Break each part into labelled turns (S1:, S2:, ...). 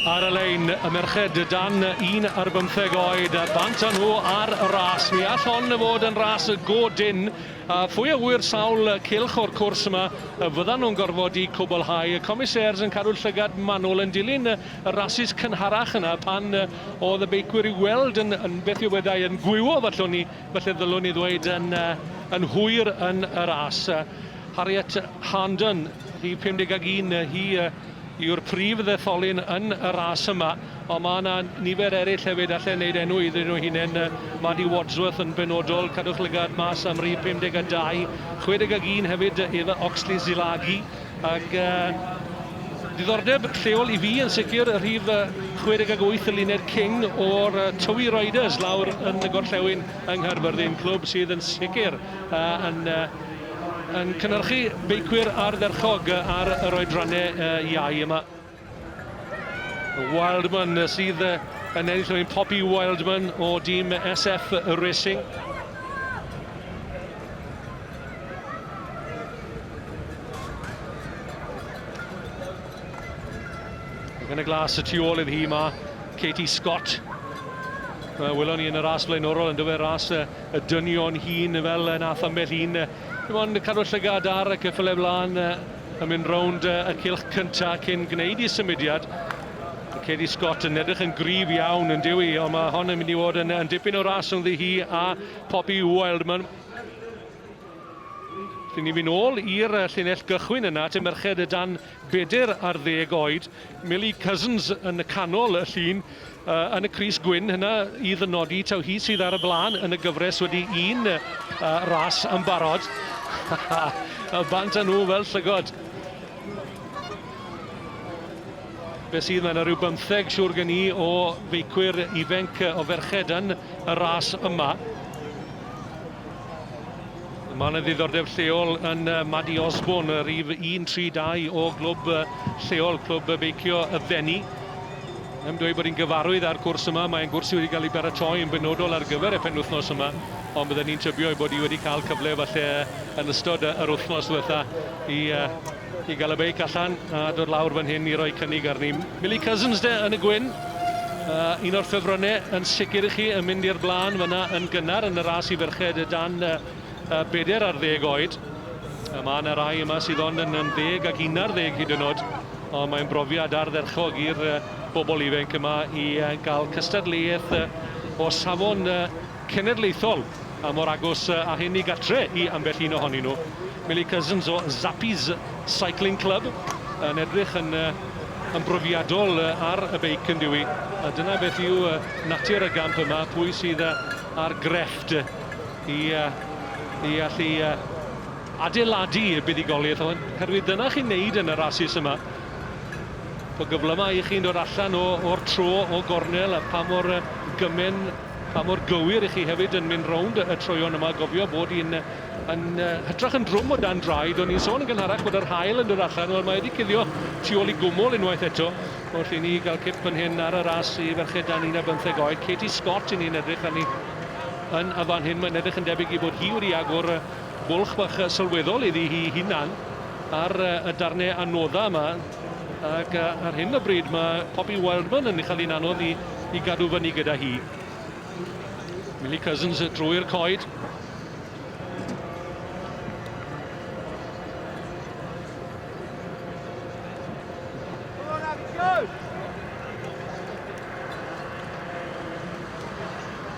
S1: Ar y lein, y merched dan un ar bymtheg oed, a bant â nhw ar y ras. Mi all hon fod yn ras y go dyn, a phwy a ŵyr sawl cilch o'r cwrs yma y fyddan nhw'n gorfod i cwblhau. Y comisêrs yn cadw llygad manwl yn dilyn y y rasys cynharach yna pan oedd y beicwyr i'w weld yn, yn beth yw wedai, yn gwywo fallwn ni, falle ddylwn i ddweud, yn, yn hwyr yn y ras. Harriet Harnden, rhif 51, hi yw'r prif ddetholyn yn y ras yma, ond mae yna nifer eraill hefyd allai wneud enw iddyn nhw hunain, Maddie Wadsworth yn benodol, cadwch lygad mas am rhif 52, 61 hefyd Eva Oxley-Zilagi, Ac diddordeb lleol i fi yn sicr y rhif 68 y Luned King o'r Tywi Riders lawr yn y gorllewin yng Nghaerfyrddin, clwb sydd yn sicr yn yn cynhyrchu beicwyr ardderchog ar yr oedrannau iau yma. Wildman sydd yn ennill rwy'n Poppy Wildman o dîm SF Racing. Yn y glas y tu ôl iddi hi mae Katie Scott. Mae welon ni yn y ras blaenorol yn dyfer ras y dynion hun fel nath ambell un. Dim ond cadw llygad ar y cyffyle blaen yn mynd rownd y cylch cyntaf cyn gwneud i symudiad. Mae Katie Scott yn edrych yn gryf iawn yn diwy, ond mae hon yn mynd i fod yn, yn dipyn o ras ynddi hi a Poppy Wildman. Rydyn ni'n mynd ôl i'r llinell gychwyn yna, at y merched y dan bedyr ar ddeg oed. Millie Cousins yn y canol y llun, Yn y crys gwyn hynna i ddynodi taw hi sydd ar y blaen yn y gyfres wedi un ras yn barod. y bant â nhw fel llygod. Be sydd, mae yna rhyw bymtheg siŵr gen i o feicwyr ifanc o ferched yn y ras yma. Mae yna ddiddordeb lleol yn Maddy Osborne, rhif 132 o glwb lleol, clwb beicio y Fenni. Yn dweud bod hi'n gyfarwydd â'r cwrs yma, mae'n gwrs sydd wedi cael ei baratoi yn benodol ar gyfer y penwythnos yma, ond byddwn ni'n tybio ei bod hi wedi cael cyfle falle yn ystod yr wythnos ddiwetha i, uh, i gael y beic allan a dod lawr fan hyn i roi cynnig arni. Millie Cousins de yn y gwyn, uh, un o'r ffefrynnau yn sicr i chi yn mynd i'r blaen fyna yn gynnar yn y ras i ferched dan uh, Y bedair ar ddeg oed. Y mae yna rai yma sydd ond yn, yn ddeg ac un ar ddeg hyd yn oed. Ond mae'n brofiad ardderchog i'r bobl ifanc yma i gael cystadleuaeth o safon cenedlaethol a mor agos a hyn i gatre i ambell un ohonyn nhw. Millie Cousins o Zappies Cycling Club yn edrych yn, yn brofiadol ar y beic yn diwy. A dyna beth yw natur y gamp yma, pwy sydd ar grefft. i allu adeiladu y buddugoliaeth hwn, oherwydd dyna chi'n neud yn y rasus yma. Bod gyflymau i chi'n dod allan o'r tro, o gornel, a pa mor gymen, pa mor gywir i chi hefyd yn mynd rownd y troion yma. Gofio bod hi'n yn, hytrach yn drwm o dan draed. O'n i'n sôn yn gynharach bod yr hael yn dod allan, wel mae wedi cilio tu ôl i gwmwl unwaith eto. Wrth i ni gael cip yn hyn ar y ras i ferched dan 15 oed, Katie Scott i ni'n edrych arni. Yn fan hyn mae'n edrych yn debyg i fod hi wedi agor bwlch bach sylweddol iddi hi hunan ar y darnau anoddau yma ac ar hyn o bryd mae Poppy Wildman yn cael hi'n anodd i, i gadw fyny gyda hi. Millie Cousins drwy'r coed.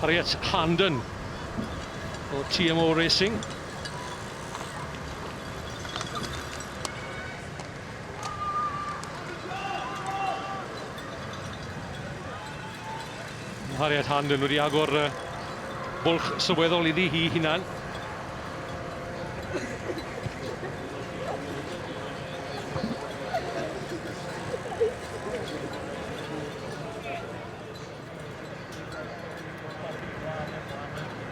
S1: Harriet Harnden o TMO Racing. Harriet Harnden wedi agor uh, bwlch sylweddol iddi hi hunan.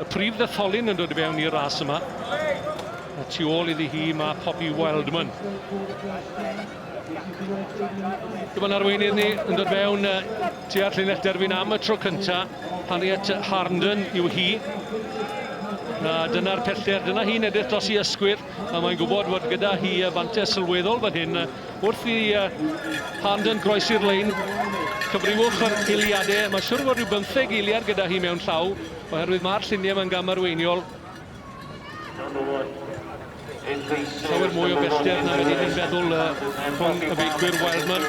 S1: Y prif ddetholyn yn dod i fewn i'r ras yma. A tu ôl iddi hi mae Poppy Wildman. Dyma'n arweinydd ni yn dod fewn tu at llinell derfyn am y tro cynta. Harriet Harnden yw hi. A dyna'r pellter, dyna hi'n edrych dros i ysgwyr. A mae'n gwybod fod gyda hi y fantes sylweddol fan hyn wrth i Harnden groesi'r lein. Cyfriwch yr eiliadau. Mae'n siwr fod rhyw bymtheg eiliad gyda hi mewn llaw, oherwydd mae'r lluniau mae'n gamarweiniol. Llawer mwy o bellter na wedi ni'n feddwl rhwng y beicwyr Wildman.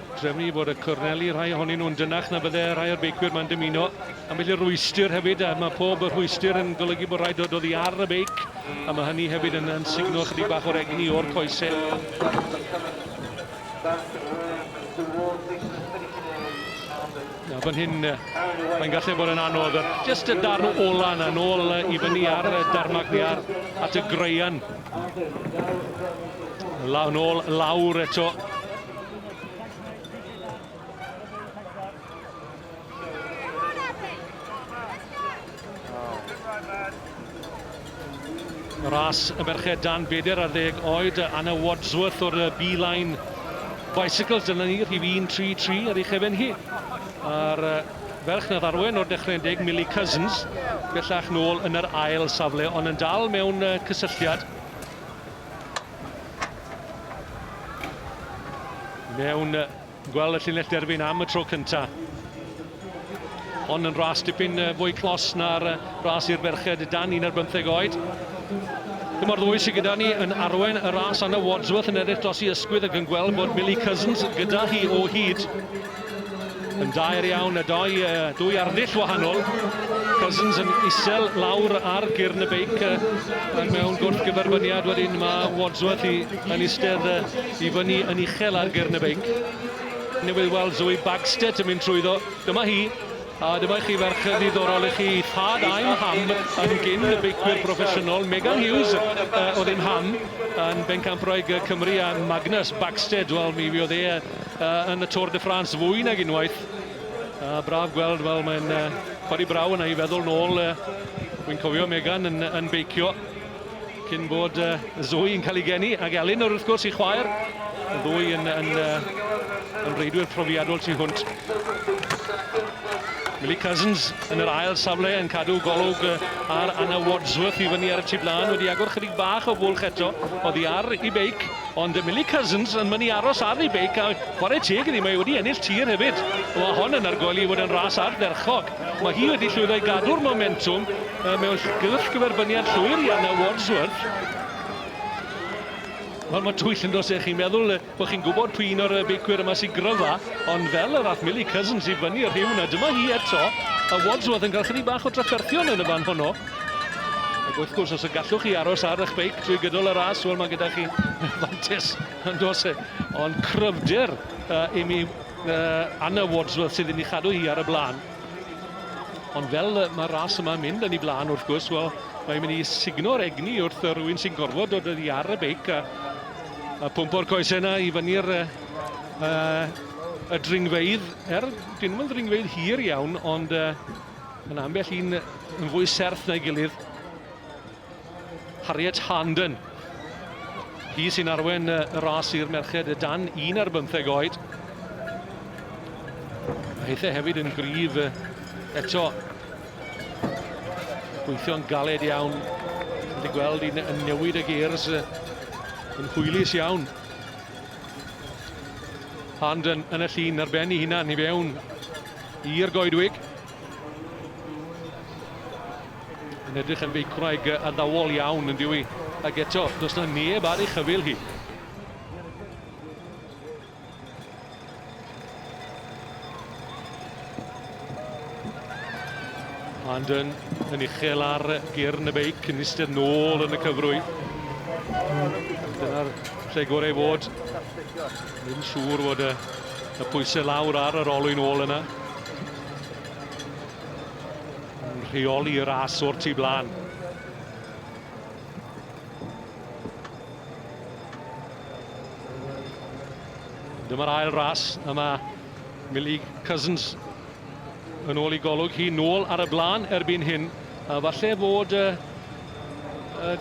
S1: Trefnu i fod y corneli, rhai ohonyn nhw'n dynach na fydde rhai o'r beicwyr mae'n dymuno. A felly rhwystr hefyd, a mae pob rhwystr yn golygu bod rhaid dod oddi ar y beic, a mae hynny hefyd yn, yn signo chydig bach o'r egni o'r coesau. A fan hyn, mae'n gallu bod yn anodd. Just y darn ola yna, nôl i fyny ar y darmac ni ar at y graean. Law nôl, lawr eto. Ras y merched dan beder ar ddeg oed, Anna Wadsworth o'r B-Line Bicycles, dyna ni, rhif 133 ar ei chefen hi. A'r ferch na ddarwen o'r dechrau yn deg, Millie Cousins, bellach nôl yn yr ail safle, ond yn dal mewn cysylltiad Mewn gweld y llinell derfyn am y tro cynta. Hon yn ras dipyn fwy clos na'r ras i'r ferched dan un ar bymtheg oed. Dyma'r ddwy sydd gyda ni yn arwen y ras Anna Wadsworth yn edrych dros i ysgwydd ac yn gweld bod Millie Cousins gyda hi o hyd. Yn daer iawn y doi, dwy arddull wahanol. Cousins yn isel lawr ar gyrn y beic ac mewn gwrth gyferbyniad wedyn mae Wadsworth i, yn istedd i fyny yn uchel ar gyrn y beic. Newydd weld Zoe Bagstead yn mynd trwyddo. Dyma hi, a dyma i chi ferch ddiddorol i chi, thad a'i ham yn gyn y beicwyr proffesiynol. Megan Hughes uh, oedd ein ham yn Bencampwraig Cymru a Magnus Bagstead, wel mi fi oedd e uh, yn y Tour de France fwy nag unwaith. Uh, braf gweld, wel, mae'n uh, codi braw yna i feddwl nôl. Uh, Wy'n cofio Megan yn, yn beicio cyn bod uh, Zoe yn cael ei geni, ac Elin wrth gwrs i chwaer. Y ddwy yn, yn, uh, yn reidwyr profiadol tu hwnt. Millie Cousins yn yr ail safle yn cadw golwg ar Anna Wadsworth i fyny ar y tu blaen. Wedi agor chydig bach o fwlch eto. Oddi ar i beic. Ond Emily Cousins yn mynd i aros ar ei beic a chwarae teg iddi, mae wedi ennill tir hefyd. Mae hon yn argoeli i fod yn ras ardderchog. Mae hi wedi llwyddo i gadw'r momentwm mewn gylch gyferbyniad llwyr i Anna Wadsworth. Wel, mae twyll yn dos eich chi'n meddwl bod chi'n gwybod pwy un o'r beicwyr yma sy'n gryfa, ond fel yr ath Millie Cousins i fyny y rhiw na dyma hi eto, a Wadsworth yn cael chydig bach o drafferthion yn y fan honno. Ac wrth gwrs, os y gallwch chi aros ar eich beic trwy gydol y ras, wel mae gyda chi fantes yn dos e. Ond cryfder uh, i mi uh, Anna Wadsworth sydd yn ei chadw hi ar y blaen. Ond fel mae'r ras yma'n mynd yn ei blaen, wrth gwrs, wel, mae'n mynd i signo'r egni wrth rhywun sy'n gorfod dod oddi ar y beic a, a pump o'r coesau yna i fyny'r uh, uh, y dringfeidd, er dyn nhw'n dringfeidd hir iawn, ond uh, Mae yna ambell un yn fwy serth na'i gilydd. Harriet Harnden. Hi sy'n arwen y ras i'r merched y dan un ar bymtheg oed. Mae hithau hefyd yn gryf eto. Gweithio'n galed iawn. Wedi gweld un yn newid y geirs yn hwylus iawn. Harnden yn y llun ar ben i hunan i fewn I'r goedwig. Yn edrych yn feicwraig addawol iawn yn diwy. Ac eto, does na neb ar ei chyfil hi. London yn uchel ar gyrn y beic yn eistedd nôl yn y cyfrwy. Dyna'r lle gorau fod. Ddim siŵr fod y, y pwysau lawr ar yr olwyn ôl yna. Yn rheoli y ras o'r tu blaen. Dyma'r ail ras yma Millie Cousins yn ôl i golwg hi nôl ar y blaen erbyn hyn. A falle fod y, y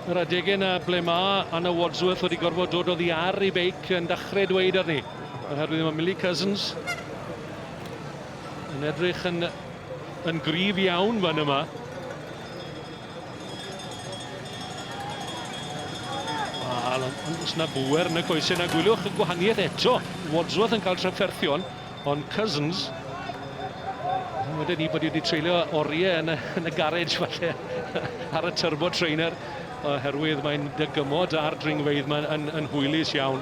S1: Yr adegau yna ble mae Anna Wadsworth wedi gorfod dod oddi ar ei beic yn dachrau dweud arni. Oherwydd mae Millie Cousins yn edrych yn, yn grif iawn fan yma. Wel, os na bwer yn y coesau na gwyliwch y gwahaniaeth eto. Wadsworth yn cael trafferthion. Ond Cousins, wedyn ni bod wedi treulio oriau yn y, yn y garej falle ar y turbo trainer oherwydd mae'n dygymod ar dringfeidd mae'n yn, yn hwylus iawn.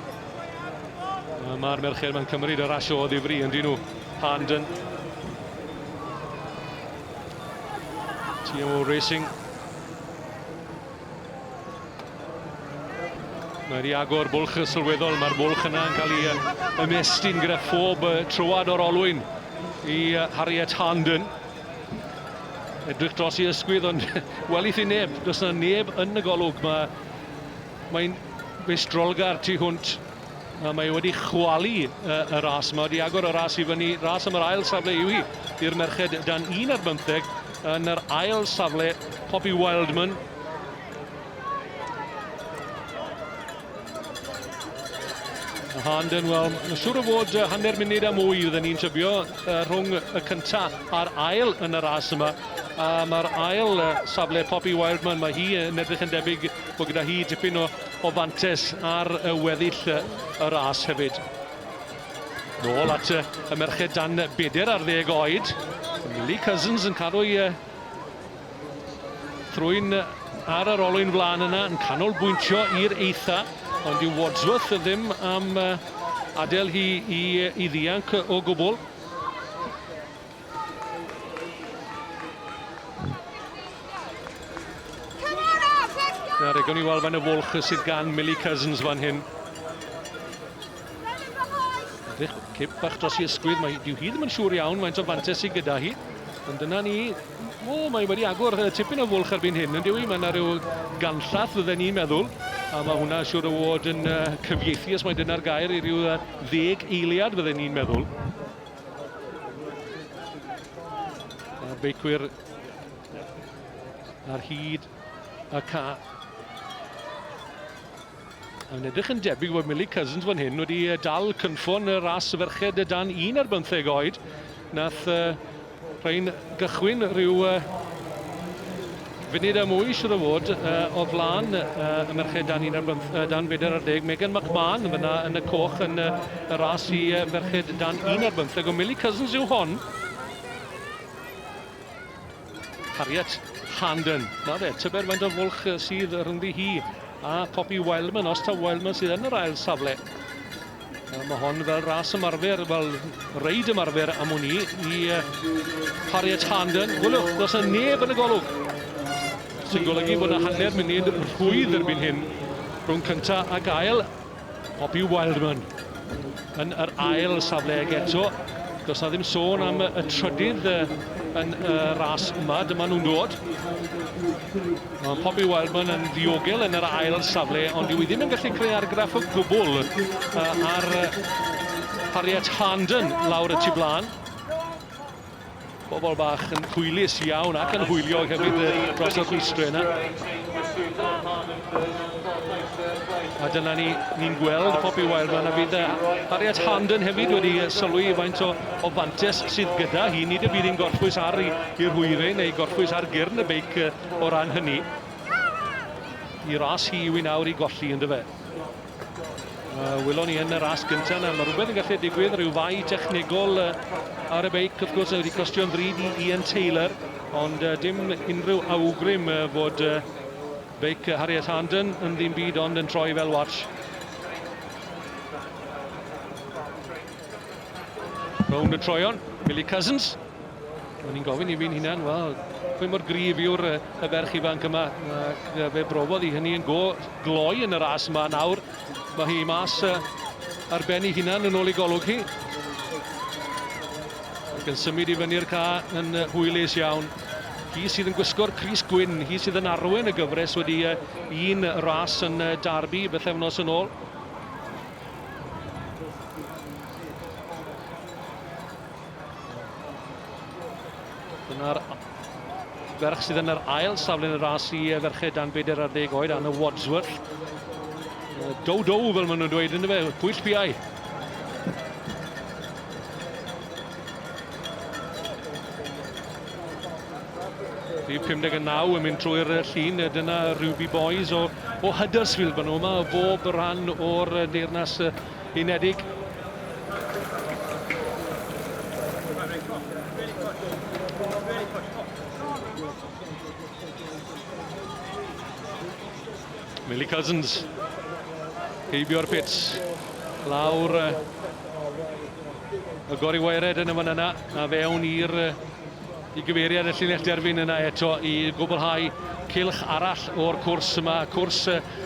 S1: Mae'r merched mae'n cymryd y rasio o ddifri yn dyn nhw. Harnden. TMO Racing Mae wedi agor bwlch y sylweddol, mae'r bwlch yna yn cael ei ymestyn gyda phob troad o'r olwyn i Harriet Harnden. Edrych dros i ysgwydd, ond welith i neb, does yna neb yn y golwg. Mae'n mae strolgar tu hwnt A mae wedi chwalu y, y ras yma, wedi agor y ras i fyny. Ras am yr ail safle yw hi i'r merched dan 1 ar bymtheg yn yr ail safle, Poppy Wildman. Handen, wel, siwr o fod hanner munud a mwy fydden ni'n tybio uh, rhwng y cynta a'r ail yn y ras yma. A mae'r ail uh, safle Poppy Wildman, mae hi yn edrych yn debyg bod gyda hi dipyn o o fantes ar y weddill y ras hefyd. Nôl at y merched dan bedair ar ddeg oed. Millie Cousins yn cadw i thrwy'n ar yr olwyn flaen yna, yn canolbwyntio i'r eitha, ond yw Wadsworth ddim am adael hi i, i ddianc o gwbl. Nawr, egon i weld fan y fwlch sydd gan Millie Cousins fan hyn. Edrych, cip bach dros i ysgwydd, mae dyw hi ddim yn siŵr iawn mae'n o fantes sydd gyda hi. Ond dyna ni, o, mae wedi agor tipyn o fwlch erbyn hyn, yn dyw i, mae yna rhyw ganllath fydden ni'n meddwl, a mae hwnna siŵr o fod yn cyfieithu, os mae dyna'r gair, i ryw ddeg eiliad fydden ni'n meddwl. Mae'r beicwyr ar hyd y ca. Yn edrych yn debyg bod Millie Cousins fan hyn wedi dal cynffon y ras y ferched dan un ar bymtheg oed. Nath uh, rhain gychwyn rhyw uh, Funud a mwy, siŵr o fod, o flaen y merched dan 14, Megan McMahon fyna yn y coch yn y ras i ferched dan 15, ond Millie Cousins yw hon. Harriet Handen, na fe, tybed faint o fwlch sydd rhyngddi hi a Poppy Wildman, os ta Wildman sydd yn yr ail safle. Wel, mae hon fel ras ymarfer, fel reid ymarfer am wn i, i Harriet Harnden. Gwylwch, does yna neb yn y golwg. Sy'n golygu bod yna hanner munud rhwydd erbyn hyn rhwng cynta a gael. Poppy Wildman yn yr ail safle ag eto. Does na ddim sôn am y trydydd yn y ras yma. Dyma nhw'n dod. Mae Poppy Wildman yn ddiogel yn yr ail safle, ond dyw hi ddim yn gallu creu argraff o gwbl ar Harriet Harnden lawr y tu blaen. Bobl bach yn hwylus iawn ac yn hwyliog hefyd dros y rhwystrau yna. A dyna ni, ni'n gweld Poppy Wildman a bydd Harriet Harnden hefyd wedi sylwi i faint o, o fantes sydd gyda hi. Nid y bydd hi'n gorffwys ar i'r hwyre neu gorffwys ar gyrn y beic o ran hynny. I ras hi yw i nawr i golli, ynddo fe. Uh, Wylon ni yn y ras gyntaf yna, mae rhywbeth yn gallu digwydd, rhyw fai technegol uh, ar y beic, wrth gwrs, wedi costio'n ddrud i Ian Taylor, ond uh, dim unrhyw awgrym uh, fod uh, beic Harriet Harnden yn ddim byd ond yn troi fel watch. Rownd y troion, Billy Cousins. O'n i'n gofyn i fi'n hunan, wel, pwy mor grif yw'r y ferch ifanc yma? Ac fe brofodd i hynny yn go gloi yn y ras yma nawr. Mae hi mas ar ben ei hunan yn ôl ei golwg hi. Ac yn symud i fyny'r ca yn hwylus iawn. Hi sydd yn gwisgo'r Cris Gwyn, hi sydd yn arwen y gyfres wedi un ras yn Darby bythefnos yn ôl. Dyna'r ferch sydd yn yr ail safle yn y ras i ferched dan bedair ar ddeg oed, Anna Wadsworth. Dow dow fel maen nhw'n dweud yn y fe, pwyll piau. Rhyw 59 yn mynd trwy'r llun, dyna Ruby Boys o, o Huddersfield, maen nhw yma o bob rhan o'r Deyrnas Unedig. Millie Cousins, heibio'r pits, lawr Y gori waered yn y fan yna, a fewn i'r i gyfeiriad y llinell derfyn yna eto i gwblhau cylch arall o'r cwrs yma, cwrs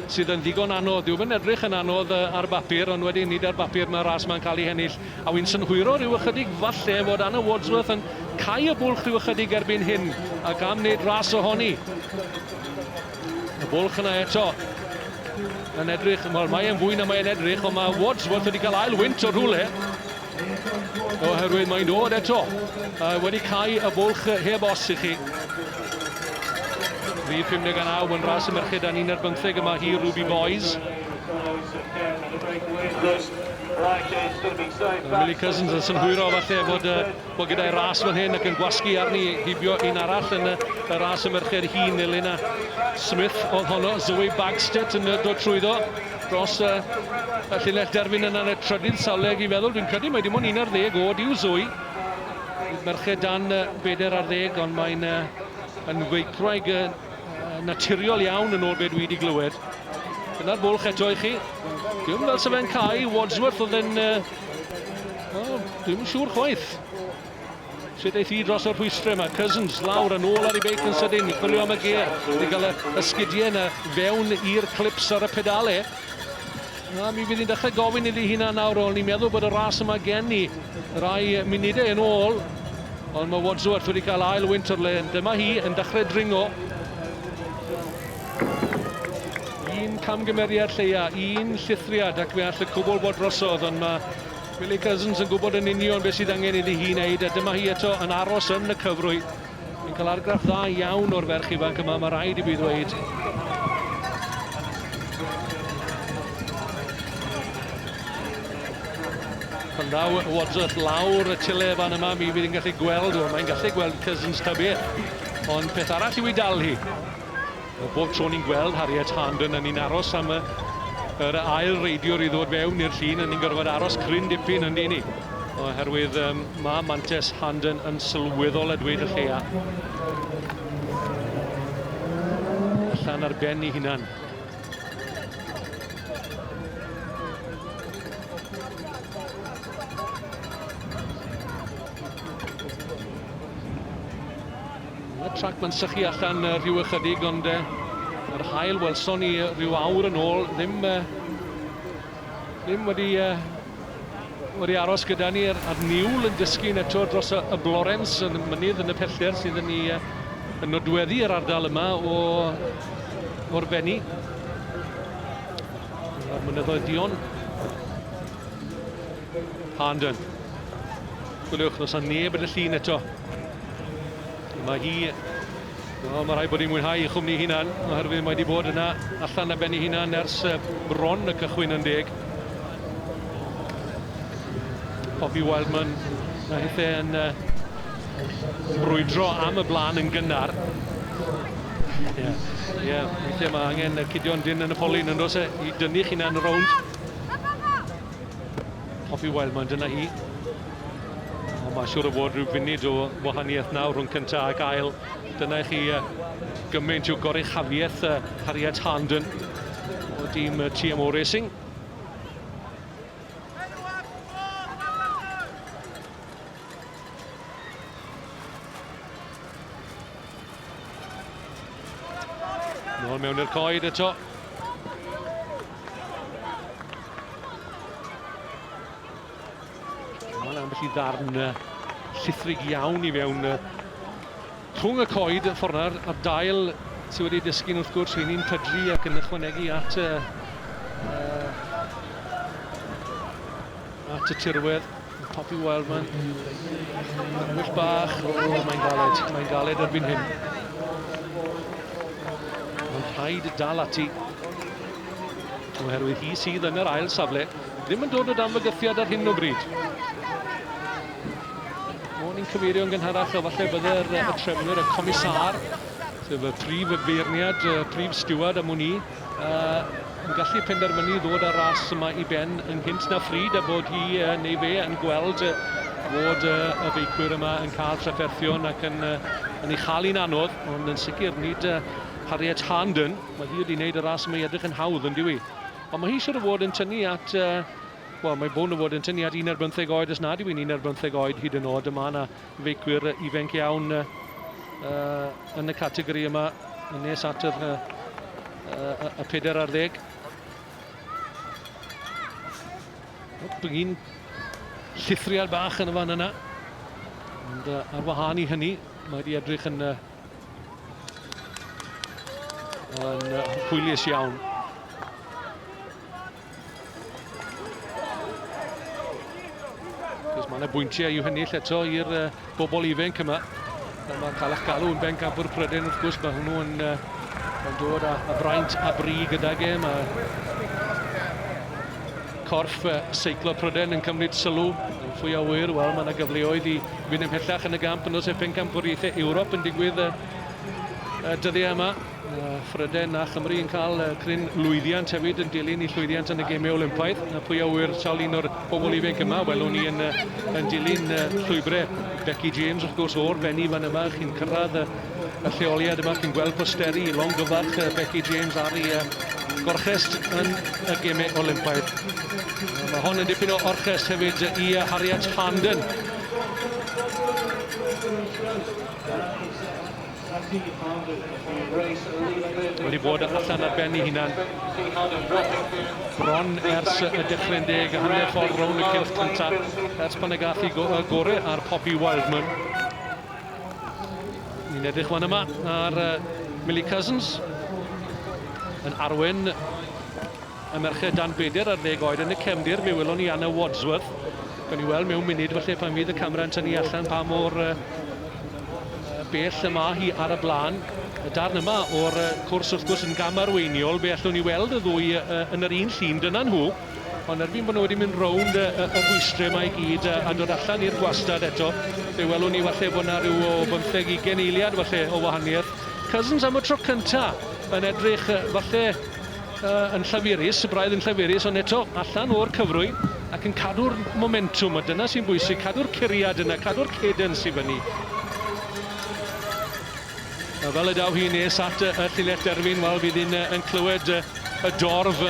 S1: sydd yn ddigon anodd. Dyw yn edrych yn anodd ar bapur, ond wedyn nid ar bapur mae'r ras mae'n cael ei hennill. A wy'n synhwyro rhyw ychydig falle fod Anna Wadsworth yn cau y bwlch rhyw ychydig erbyn hyn, ac am wneud ras ohoni. Y bwlch yna eto yn edrych, wel mae e'n fwy na mae'n edrych, ond mae Wadsworth wedi cael ail wynt o'r rhywle. Oherwydd mae'n dod eto, uh, wedi cael y bwlch heb os i chi. Rhif 59 yn ras y merched a ni'n ar bymtheg yma hi Ruby Boys. Millie Cousins yn synhwyro falle fod uh, Wel gyda'i ras fan hyn ac yn gwasgu arni heibio un arall yn y ras y merched hŷn Elena Smith oedd honno, Zoe Bagstedt yn y dod trwyddo dros y, y llinell derfyn yna yn y trydydd sawleg i feddwl, dwi'n credu mae dim ond un ar ddeg oed yw Zoe. Bydd merched dan bedair ar ddeg ond mae'n yn feicwraig naturiol iawn yn ôl be dwi wedi glywed. Dyna'r bwlch eto i chi. Dwi'n fel sef e'n cael, Wadsworth oedd yn Wel, dwi'n siŵr chwaith. Sut eith hi dros y rhwystrau yma. Cousins lawr yn ôl ar ei beic yn sydyn i chwilio am y ger. I gael y, y sgidiau yna fewn i'r clips ar y pedale. A mi fydd hi'n dechrau gofyn iddi hynna nawr, o'n i'n meddwl bod y ras yma gen ni rai munudau yn ôl. Ond mae Wadsworth wedi cael ail wynt o'r le. Dyma hi yn dechrau dringo. Un camgymeriad lleia, un llithriad ac fe all y cwbl fod drosodd, ond mae Billy Cousins yn gwybod yn union beth sydd angen iddi hi wneud a dyma hi eto yn aros yn y cyfrwy. Yn cael argraff dda iawn o'r ferch ifanc yma, mae rhaid i fi ddweud. Pan ddaw Wadsworth lawr y tile fan yma, mi fydd yn gallu gweld, o, mae'n gallu gweld Cousins ta beth. Ond peth arall yw i dal hi. O bob tro ni'n gweld Harriet Harnden, ni'n aros am y, yr ail reidiwr i ddod fewn i'r llun, a ni'n gorfod aros cryn dipyn yn dyn ni. Oherwydd um, mae Mantes Harnden yn sylweddol a dweud y lleia. Allan ar ben i hunan. Y trac ma'n sychu allan rhyw ychydig ond yr haul welson ni rhyw awr yn ôl ddim ddim wedi wedi aros gyda ni a'r, ar niwl yn dysgu'n eto dros y, y Blorens yn mynydd yn y pellter sydd yn ei yn nodweddu yr ardal yma o o'r fenni. A'r mynyddoedd dion. Harnden. Gwylwch, nos a neb yn y llun eto. Mae hi... Wel, mae rhaid bod hi'n mwynhau ei chwmni hunan, oherwydd mae wedi bod yna allan na benni hunan ers bron y cychwyn yn deg. Poppy Wildman a hithau yn uh, brwydro am y blaen yn gynnar. Ie, yeah. yeah. weithiau mae angen cydion dyn yn y polyn yn dos e i dynnu chi'n yn y rownd. Hoffi Wildman, dyna hi. Ond mae'n siŵr o fod rhyw funud o wahaniaeth nawr rhwng cyntaf ac ail. Dyna i chi gymaint o goruchafiaeth Harriet Harnden o dîm TMO Racing. Nôl mewn i'r coed eto. Mae'n ambell i ddarn llithrig iawn i fewn rhwng y coed y ffordd na'r a'r dail sydd wedi dysgu'n wrth gwrs rhywun i'n pydru ac yn ychwanegu at y, uh, at y tirwedd. Poppy Wildman. Wyll bach. O, oh, mae'n galed. Mae'n galed erbyn hyn. Mae'n rhaid dal ati. Oherwydd hi sydd yn yr ail safle. Ddim yn dod o dan fygythiad ar hyn o bryd. O'n i'n cyfeirio yn gynharach, falle bydde'r y trefnwyr, y comisar, sef y prif feirniad, y prif stiwad am hwn i, Yy yn gallu penderfynu ddod â'r ras yma i ben yn gynt na phryd a bod hi yy, neu fe yn gweld yy, fod yy, y feicwyr yma yn cael trafferthion ac yn, yy, yn ei chael hi'n anodd, ond yn sicr nid yy, Harriet Harnden. Mae hi wedi gwneud y ras yma i edrych yn hawdd, yn diwy. Ond mae hi siwr o fod yn tynnu at... Yy, Wel, mae Bown o fod yn tynnu at un ar bymtheg oed os nad yw hi'n un ar bymtheg oed hyd yn oed. Mae yna Feicwyr ifanc iawn uh, yn y categori yma yn nes at yr, uh, y peder ar ddeg. Bygin llithriad bach yn y fan yna. Ond uh, ar wahân i hynny, mae wedi edrych yn, uh, yn uh, hwylius iawn. Cos mae yna bwyntiau i'w hennill eto i'r uh, bobl ifenc yma. Ond mae cael eich galw yn bencampwr Pryden wrth gwrs, mae hwnnw yn, uh, yn dod â, â braint a bri gydag e. Mae corff uh, seiclo Pryden yn cymryd sylw yn fwy o wir. Wel, mae yna gyfleoedd i fynd ymhellach yn y gamp yn os efe pencampwriaethau Ewrop yn digwydd uh, y dyddiau yma. Phrydain a Chymru yn cael cryn lwyddiant hefyd yn dilyn i llwyddiant yn y gemau Olympaidd. Pwy a ŵyr sawl un o'r bobl ifanc yma welwn ni yn, yn dilyn llwybrau Becky James wrth gwrs o'r benni fan yma chi'n cyrraedd y, y lleoliad yma chi'n gweld posteri longyfarch Becky James ar ei gorchest yn y gemau Olympaidd. Mae hon yn dipyn o orchest hefyd i Harriet Harnden. Wedi bod allan ar ben ei hunan bron ers y dechrau'n deg a hanner ffordd rownd y cylch cyntaf ers pan y gath i go y gore ar Poppy Wildman. Ni'n edrych fan yma ar uh, Millie Cousins yn arwen Y merched dan 40 oed yn y cefndir, mi welwn ni Anna Wadsworth. Gawn ni weld mewn munud felly pan fydd y camera'n tynnu allan pa mor uh, bell y mae hi ar y blaen. Y darn yma o'r cwrs wrth gwrs yn gam arweiniol, be allwn ni weld y ddwy uh, yn yr un llun, dyna nhw. Ond erbyn bod nhw wedi mynd rownd y, y, y rhwystrau mae i gyd a, a dod allan i'r gwastad eto, fe welwn ni falle bod yna rhyw o bymtheg i geneiliad falle o wahaniaeth. Cousins am y tro cyntaf yn edrych falle Yy, yn llafurus, y braidd yn llafurus, ond eto, allan o'r cyfrwy ac yn cadw'r momentwm, a dyna sy'n bwysig, cadw'r curiad yna, cadw'r cadence i fyny. A fel y daw hi nes at y llinell derfyn, wel, fydd un yn clywed y dorf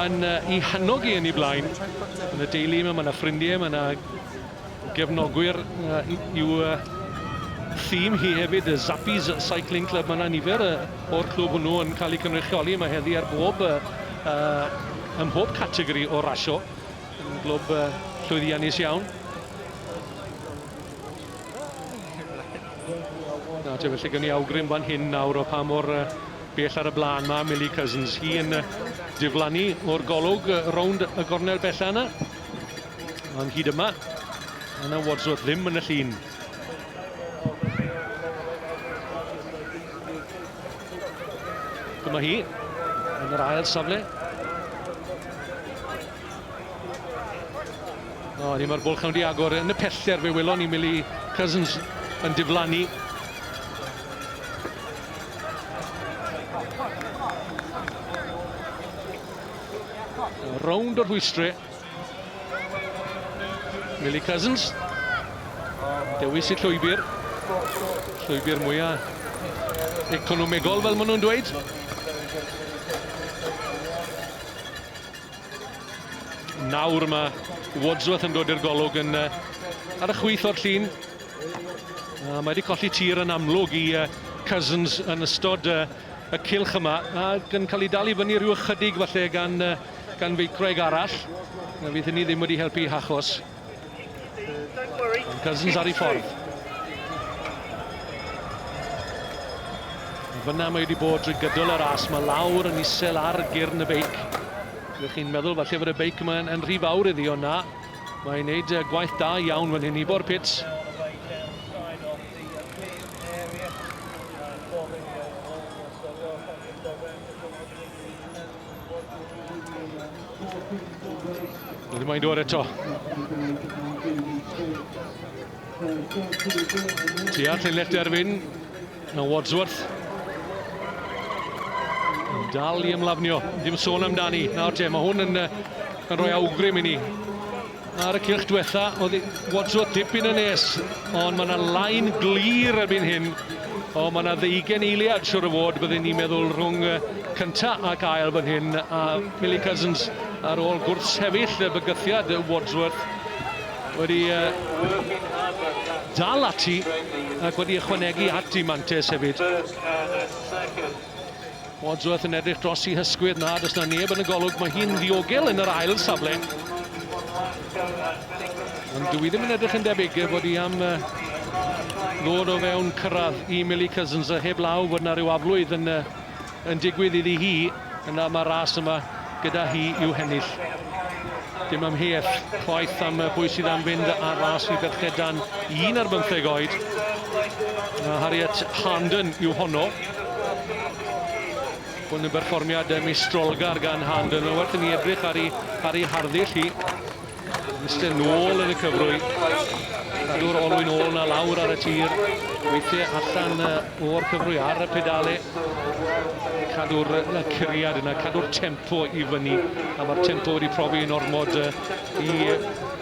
S1: yn i hannog i yn ei blaen. Yn y deulu yma, mae yna ffrindiau, mae yna gefnogwyr i'w thîm hi hefyd, y Zappies Cycling Club. Mae yna nifer o'r clwb hwnnw yn cael eu cynrychioli yma heddi ar bob, uh, ym mhob categori o rasio. Yn glwb uh, llwyddiannus iawn. Na, te felly gen i awgrym fan hyn nawr o pa mor uh, bell ar y blaen mae Millie Cousins. Hi yn uh, diflannu o'r golwg uh, rownd y gornel bella yna. Ond hyd yma, yna Wadsworth ddim yn y llun. Dyma hi, yn yr ail safle. O, ni mae'r bwlch yn wedi agor yn y pellter fe welon ni Mili Cousins yn diflannu. Rownd y rhwystri. Millie Cousins. Dewis y llwybr. Llwybr mwyaf economegol fel maen nhw'n dweud. Nawr mae Wadsworth yn dod i'r golwg yn uh, ar y chwyth o'r llun. Uh, mae wedi colli tir yn amlwg i uh, Cousins yn ystod uh, y cylch yma ac yn cael ei dal i fyny rhyw ychydig falle gan, gan feicwraig arall. Na fydd hynny ddim wedi helpu i achos. Ond Cousins ar ei ffordd. Fyna mae wedi bod drwy gydol y ras, mae lawr yn isel ar gyrn y beic. Ydych chi'n meddwl falle fod y beic yma yn, yn rhy fawr iddi, ond na. Mae'n gwneud gwaith da iawn fan hyn i bo'r pits. Dydy mae'n dod eto. Ti all ei left erfyn. Now Wadsworth. Dal i ymlafnio. Dim sôn amdani. Nawr te, mae hwn yn, yn rhoi awgrym i ni. Ar y cylch diwetha, oedd Wadsworth dipyn yn nes, ond mae yna lain glir erbyn hyn. O, mae yna ddeugen eiliad, siwr o fod, byddwn ni'n meddwl, rhwng cynta ac ail fan hyn, a Millie Cousins ar ôl gwrthsefyll y bygythiad Wadsworth wedi dal ati ac wedi ychwanegu at i mantes hefyd. Wadsworth yn edrych dros i hysgwydd, na, does na neb yn y golwg, mae hi'n ddiogel yn yr ail safle. Ond dwi ddim yn edrych yn debyg bod hi am ddod o fewn cyrraedd i Millie Cousins, a heb law fod na rhyw aflwydd yn, yn digwydd iddi hi, yna mae ras yma gyda hi i'w hennill. Dim amheuaeth chwaith am y bwy sydd am fynd ar ras i ferched dan un ar bymtheg oed. Mae Harriet Harnden yw honno. Hwn yn berfformiad mistrolgar gan Harnden. Mae'n werth i ni edrych ar ei, ar ei harddull hi. Iste nôl yn y cyfrwy. Cadw'r olwyn ôl na lawr ar y tir. Weithiau allan o'r cyfrwy ar y pedale. Cadw'r curiad yna, cadw'r tempo i fyny. A mae'r tempo wedi profi yn ormod i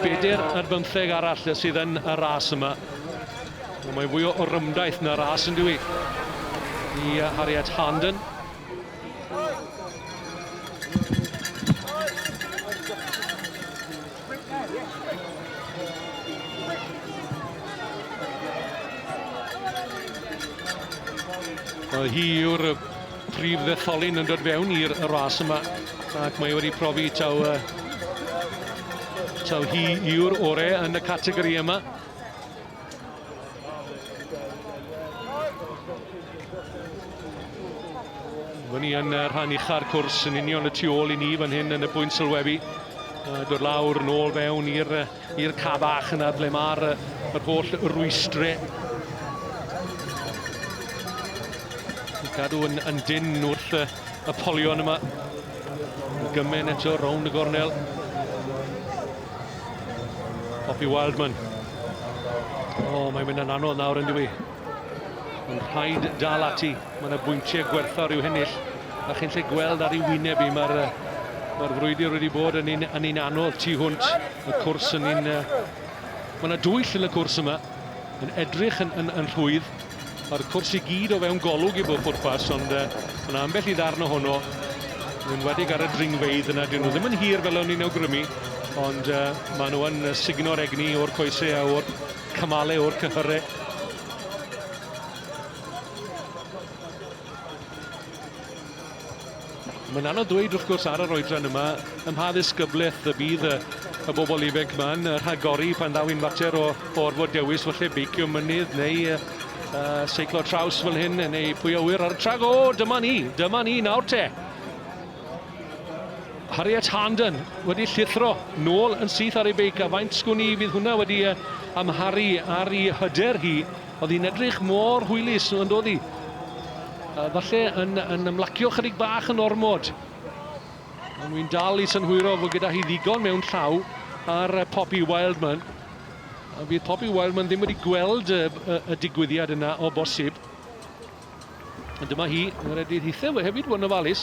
S1: bedair ar bymtheg arall sydd yn y ras yma. Mae fwy o rymdaith na ras yn dwi i Harriet Harnden. Mae hi yw'r prif ddetholyn yn dod fewn i'r ras yma ac mae wedi profi taw, uh, taw hi yw'r orau yn y categori yma. Mae ni yn uh, rhan ucha'r cwrs yn union y tu ôl i ni fan hyn yn y pwynt sylwebu. Uh, dod lawr yn ôl fewn i'r uh, ca bach yna ble mae'r uh, yr holl rwystrau gadw yn, yn dyn wrth y, y polion yma. Gymen eto rownd y gornel. Poppy Wildman. O, oh, mae'n mynd yn anodd nawr yn diwy. Mae'n rhaid dal ati. Mae'n y bwyntiau gwerthfawr i'w hennill. A chi'n lle gweld ar ei wyneb i, mae'r Mae'r frwydr wedi bod yn un, yn un anodd tu hwnt y cwrs yn un... Mae yna dwyll yn y cwrs yma, yn edrych yn, yn, yn rhwydd. Mae'r cwrs i gyd o fewn golwg i bob pwrpas, ond uh, yna ambell i ddarn ohono, yn enwedig ar y dringfeidd yna, dyn nhw ddim yn hir fel o'n ni'n awgrymu, ond uh, maen nhw yn signo'r egni o'r coesau a o'r cymale, o'r cyhyrau. Mae'n anodd dweud wrth gwrs ar yr oedran yma ym mha ddisgyblaeth y bydd y, y bobl ifanc ma'n rhagori pan ddaw i'n fater o, o orfod dewis falle beicio mynydd neu uh, seiclo traws fel hyn neu pwy awyr ar y trac. O, dyma ni, dyma ni nawr te. Harriet Harnden wedi llithro nôl yn syth ar ei beic a faint sgwn i fydd hwnna wedi uh, amharu ar ei hyder hi Oedd hi'n edrych mor hwylus, yn dod i. Falle yn, yn ymlacio chydig bach yn ormod. Ond wy'n dal i synhwyro fod gyda hi ddigon mewn llaw ar Poppy Wildman. A bydd Poppy Wildman ddim wedi gweld y, y, y digwyddiad yna o bosib. Ond dyma hi, mae'r Edydd Hithau we hefyd yn ofalus.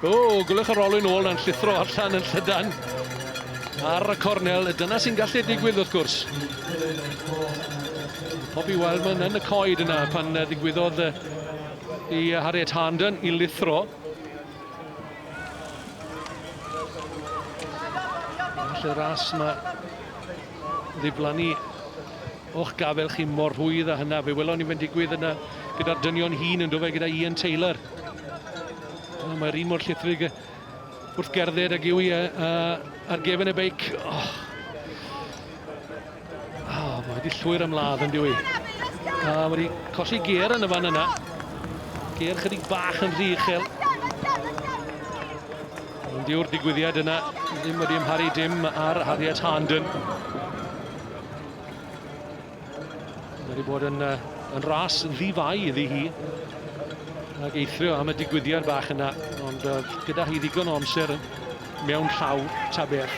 S1: O, gwylwch yr olwyn ôl na'n llithro allan yn llydan ar y cornel. Dyna sy'n gallu digwydd wrth gwrs. Poppy Wildman yn y coed yna pan ddigwyddodd i Harriet Harnden i lithro. Felly ras mae ddiflannu O'ch gafael chi mor rhwydd a hynna. Fe welon ni fe'n digwydd yna gyda'r dynion hŷn yn dofe gyda Ian Taylor. Oh, Mae'r un mor llithrig wrth gerdded ag yw i ar gefn y beic. Oh. Oh, mae wedi llwyr ymladd yn diwy. A wedi colli ger yn y fan yna. Ger chydig bach yn rhy uchel. Ond yw'r digwyddiad yna ddim wedi ymharu dim ar Harriet Harnden. Mae wedi bod yn, uh, yn ras ddifau iddi hi. Ac eithrio am y digwyddiad bach yna. Ond uh, gyda hi ddigon o amser mewn llaw ta beth.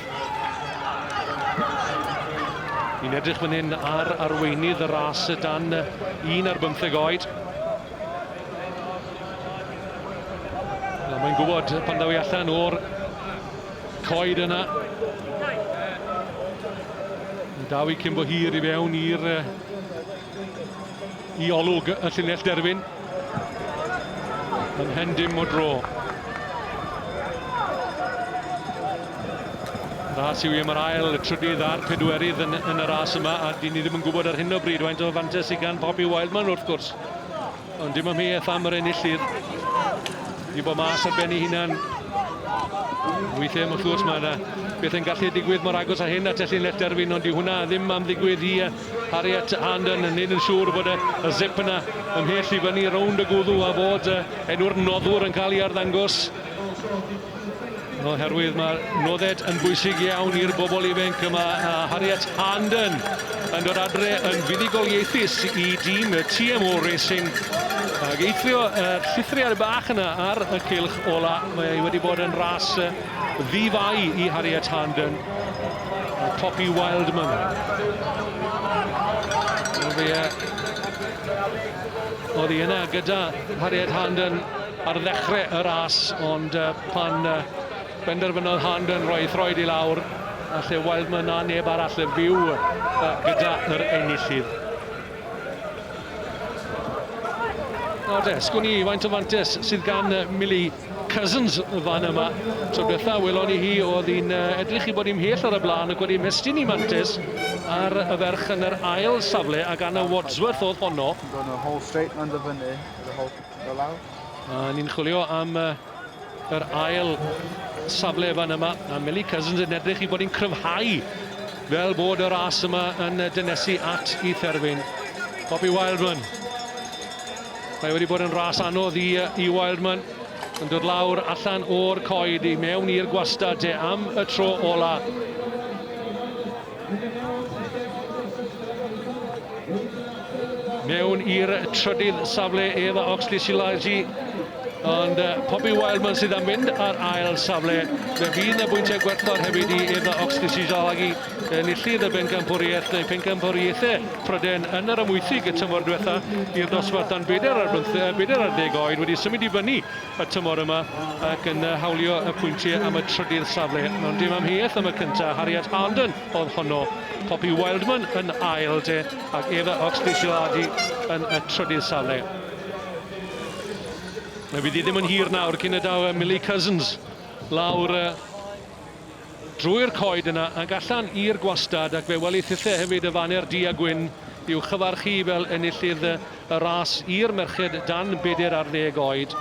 S1: Ni'n edrych fan hyn ar arweinydd y ras dan un ar bymtheg oed. Mae'n gwybod pan ddaw i allan o'r Coed yna. Yn daw i cyn bo hir i fewn i'r i olwg y llinell derfyn. Yn hen dim o dro. Ras yw i am yr ail, y trydydd a'r pedwerydd yn, yn y ras yma, a dyn ni ddim yn gwybod ar hyn o bryd faint o fantes sydd gan Poppy Wildman wrth gwrs. Ond dim amheuaeth am yr enillydd. Di bod mas ar ben ei hunan. Weithiau mae'n llwys mae yna beth yn gallu digwydd mor agos a hyn at Elin Lefterfyn, ond di hwnna ddim am ddigwydd i Harriet Harnden yn neud yn siŵr bod y, y zip yna ymhell i fyny rownd y gwddw a fod y enw'r noddwr yn cael ei arddangos. Oherwydd mae nodded yn bwysig iawn i'r bobl ifanc yma a Harriet Harnden yn dod adre yn fuddugoliaethus i dîm y TMO Racing ac eithrio y llithriad bach yna ar y cilch ola. Mae ei wedi bod yn ras ddifau i Harriet Harnden a Poppy Wildman. Oedd hi yna gyda Harriet Harnden ar ddechre y ras ond yy pan yy benderfynodd Harnden roi throed i lawr a lle Wildman mae na neb arall yn fyw yy gyda yr enillydd. Nawr de, sgwn i faint o fantes sydd gan uh, Millie Cousins y fan yma. Tro diwetha welon ni hi oedd hi'n uh, edrych i bod i'n mhell ar y blaen ac wedi mestyn i mantes ar y ferch yn yr ail safle ac Anna Wadsworth oedd honno. Yn gwneud y whole straight man dy fyny, y whole Go lawr. A ni'n chwilio am uh, yr ail safle fan yma. A Millie Cousins yn edrych i bod yn cryfhau fel bod y ras yma yn dynesu at i therfyn. Bobby Wildman. Mae wedi bod yn ras anodd i, i Wildman yn dod lawr allan o'r coed i mewn i'r gwastad te am y tro ola. Mewn i'r trydydd safle ef a Oxley Silaji. Ond uh, Poppy Wildman sydd am fynd ar ail safle. Fe fydd na bwyntiau gwerthfawr hefyd i ef a Oxley Silaji enillydd y bencampwriaeth neu pencampwriaethau Pryden yn yr amwythig y tymor diwetha i'r dosbarth dan bedair ar, bedair ar deg oed wedi symud i fyny y tymor yma ac yn hawlio y pwyntiau am y trydydd safle. Mewn dim amheuaeth am y cyntaf, Harriet Harnden oedd honno. Poppy Wildman yn ail de ac Eva Oxley-Siladi yn y trydydd safle. Fe fydd hi ddim yn hir nawr cyn y daw Millie Cousins lawr Drwy'r coed yna ac allan i'r gwastad ac fe welith ille hefyd y faner du a gwyn i'w chyfarchu fel enillydd y ras i'r merched dan bedair ar ddeg oed.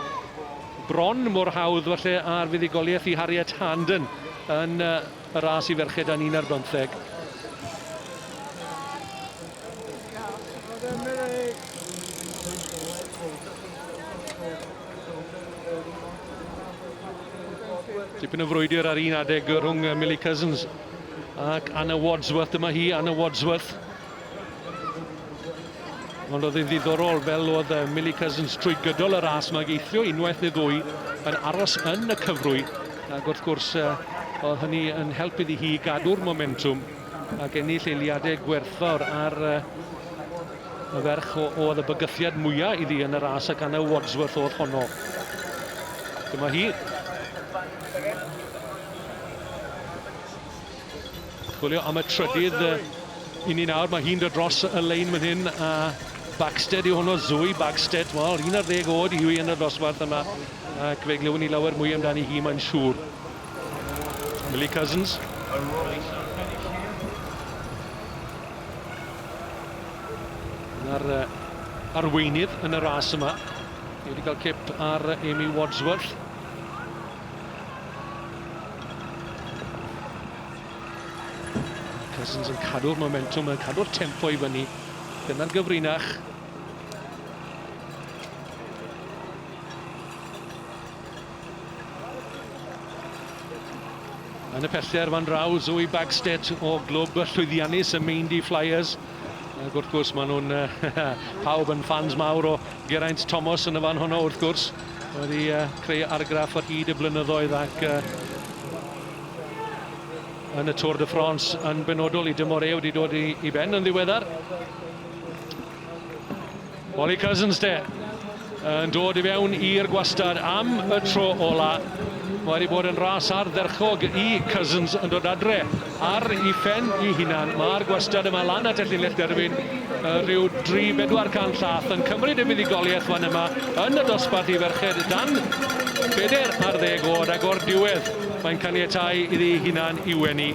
S1: Bron mor hawdd falle a'r fuddugoliaeth i Harriet Harnden yn y ras i ferched dan un ar bymtheg. Tipyn o frwydr ar un adeg rhwng Millie Cousins ac Anna Wadsworth. Dyma hi, Anna Wadsworth. Ond oedd yn ddiddorol fel oedd Millie Cousins trwy gydol y ras mae geithio unwaith neu ddwy yn aros yn y cyfrwy ac wrth gwrs oedd hynny yn help iddi hi gadw'r momentum ac ennill eiliadau gwerthfawr ar Y ferch oedd y bygythiad mwyaf iddi yn y ras ac Anna Wadsworth oedd honno. Dyma hi. Chwilio am y trydydd i ni nawr. Mae hi'n dod dros y lein fan hyn a Bagstead yw hwnnw, Zoe Bagstead. Wel, un ar ddeg oed yw hi yn y ddosbarth yma ac fe glywyn ni lawer mwy amdani hi, mae'n siŵr. Millie Cousins. Na'r arweinydd yn y ras yma. Ni wedi cael cip ar Amy Wadsworth. Cousins yn cadw'r momentum, yn cadw'r tempo i fyny. Dyna'r gyfrinach. Yn y pellter fan draw, Zoe Bagstead o glwb llwyddiannus y Meindy Flyers. Ac wrth gwrs, maen nhw'n pawb yn ffans mawr o Geraint Thomas yn y fan honno, wrth gwrs. Wedi uh, creu argraff ar hyd y blynyddoedd ac uh, yn y Tour de France yn benodol i dymor e wedi dod i, i ben yn ddiweddar. Ollie Cousins de, yn dod i fewn i'r gwastad am y tro ola. Mae wedi bod yn ras ardderchog i Cousins yn dod adre ar i ffen i hunan. Mae'r gwastad yma lan at y llinell derfyn rhyw 3-400 llath yn cymryd y fuddugoliaeth fan yma yn y dosbarth i ferched dan beder ar ddeg oed ac o'r diwedd mae'n caniatau iddi hunan i wenu.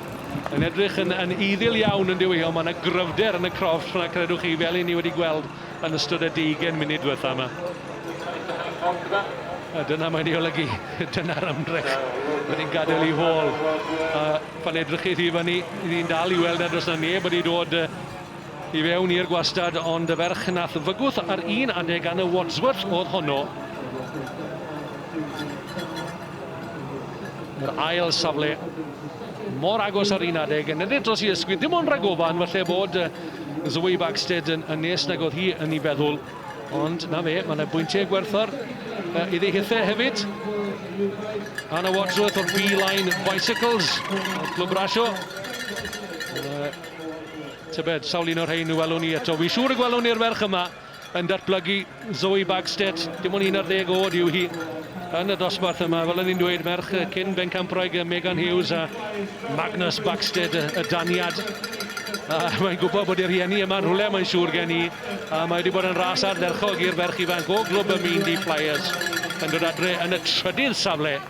S1: Mae'n edrych yn, yn iddyl iawn yn dyw Mae yna gryfder yn y crofft fyna, credwch chi, fel i ni wedi gweld yn ystod y deugen munud diwetha yma. A dyna mae'n ei olygu, dyna'r ymdrech bod ni'n gadael i hôl. A pan edrych chi i fyny, ni'n dal i weld na dros na neb wedi dod i fewn i'r gwastad, ond y ferch nath fygwth ar un adeg gan y Wadsworth oedd honno. Yr ail safle mor agos ar un adeg yn edrych dros i ysgwyd, ddim ond rhag ofan, falle bod Zoe Bagsted yn, yn nes nag oedd hi yn ei feddwl, ond na fe, mae yna bwyntiau gwerthfawr uh, iddi hithau hefyd. Anna Wadsworth o'r B-Line Bicycles, o'r Clwb Rasio. Uh, tybed, sawl un o'r rhain y welwn ni eto. Wy siŵr y gwelwn ni'r ferch yma. yn datblygu. Zoe Bagstedt, dim ond 11 oed yw hi yn y dosbarth yma. Fel o'n i'n dweud, merch cyn bencampwraig Megan Hughes a Magnus Bagstedt, y daniad. A mae'n gwybod bod ei rhieni yma rhywle, mae'n siŵr gen i. A mae wedi bod yn ras ardderchog i'r ferch ifanc o glwb y Meindi Flyers yn dod adre yn y trydydd safle.